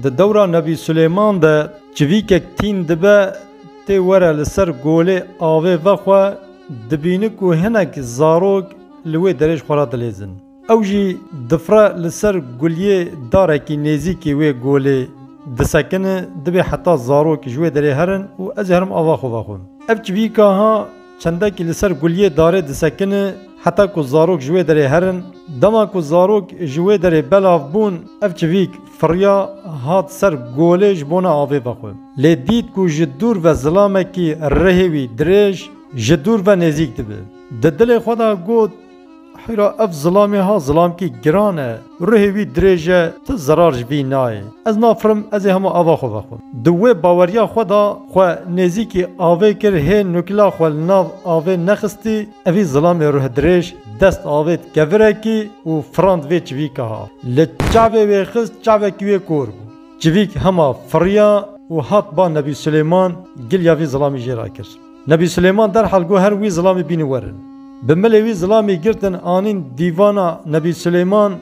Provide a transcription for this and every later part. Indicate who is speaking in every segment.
Speaker 1: Di dewra Nebî Silêman de civîkek tîn dibe tê were li ser golê avê ve xwe dibîne ku hinek zarok li wê derê ji xwe re dilêzin. Ew jî difre li ser guliyê darekî nêzîkî wê golê disekine dibê heta zarok ji wê derê herin û ez ê herim ava xwe vexwim. Ev civîka ha Çendekî li ser guliyê darê disekine heta ku zarok ji wê derê herin. Dema ku zarok ji wê derê belav bûn, ev çivîk firiya hat ser golê ji bona avê vexwe. Lê dît ku ji dûr ve zilamekî rihê wî dirêj, ji dûr ve nêzîk dibe. Di dilê xwe de got. Heyra ev zilamê ha zilamkî giran e, ruhê wî dirêj e, tu zerar ji vî nayê. Ez nafirim ez ê hemû ava xwe vexwim. Di wê baweriya xwe de xwe nêzîkî avê kir hê nukila xwe li nav avê nexistî, evî zilamê ruhdirêj dest avêt kevirekî û firand vê çivîka ha. Li çavê wê xist çavekî wê kor bû. Çivîk hema firiya û hat ba Nebî Silêman gil ya vî zilamî jê ra kir. Nebî Silêman derhal got her wî zilamê bînî werin. Bi milê wî zilamê girtin anîn dîvana Nebî Silêman.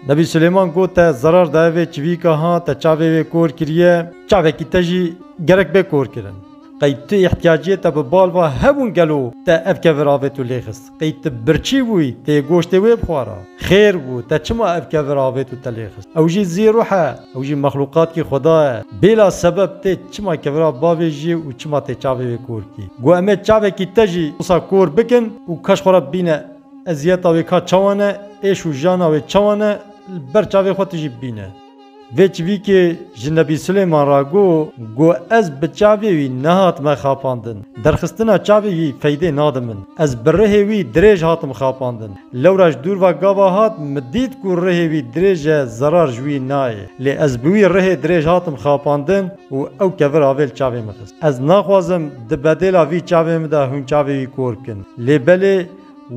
Speaker 1: Nebî Silêman got te zerar daye vê çivîka ha te çavê wê kor kiriye, çavekî te jî gerek bê korkirin. Qey tu îhtiyaciyê te bi bal va hebûn gelo te ev kevir avêt û lê xist? Ey tu birçî bûyî, tê goştê wê bixwara? Xêr bû, te çima ev kevir avêt û te lê xist? Ew jî zî ruh e, ew jî mexlûqatkî Xweda ye. Bêla sebeb tê çima kevira bavê jî û çima tê çavê wê kor kî. Got em ê çavekî te jî wisa kor bikin û keş xwe re bîne. Eziyeta wê ka çawa ne, êş û jana wê çawa ne, li ber çavê xwe tu jî bîne. Vê çivîkê ji Nebî Silêman re got ku ez bi çavê wî nehatime xapandin. Derxistina çavê wî feydê nade min. Ez bi rihê wî dirêj hatim xapandin. Lewra ji dûr ve gava hat min dît ku rihê wî dirêj e zerar ji wî nayê. Lê ez bi wî rihê dirêj hatim xapandin û ew kevir avê li çavê min xist. Ez naxwazim di bedêla vî çavê min de hûn çavê wî kor bikin. Lê belê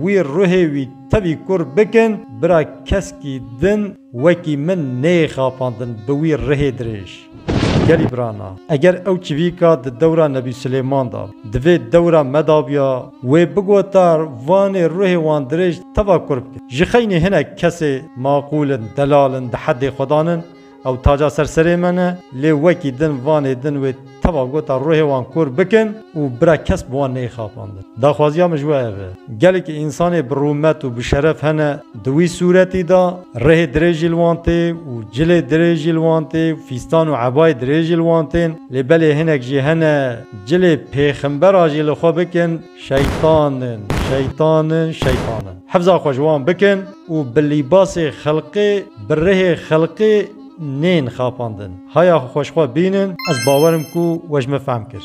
Speaker 1: wî rihê wî tevî kor bikin bira keskî din. Wekî min neyê xapandin bi wî rihê dirêj. Gelî birana, eger ew çivîka di dewra Nebî Silêman da, di vê dewra me da biya, wê bigota vanê ruhê wan dirêj teva kurp kir. Ji xeynî hinek kesê maqûl in, delal in, di heddê xwedan in, ew taca ser serê me ne, lê wekî din vanê din wê. Teva gota ruhê wan kor bikin û bira kes bi wan neyê xapandin. Daxwaziya min ji we ev e. Gelekî însanê bi rûmet û bi şeref hene di wî sûretî de, rihê dirêj jî li wan tê û cilê dirêj jî li wan tê û fîstan û ebayê dirêj jî li wan tên. Lê belê hinek jî hene cilê pêxembera jî li xwe bikin şeytan in, şeytan in, şeytan in. Hifza xwe ji wan bikin û bi lîbasê xelqê, bi rihê xelqê, Nên xapandin haya xweşxwe bînin. Ez bawer im ku we ji min fehm kir.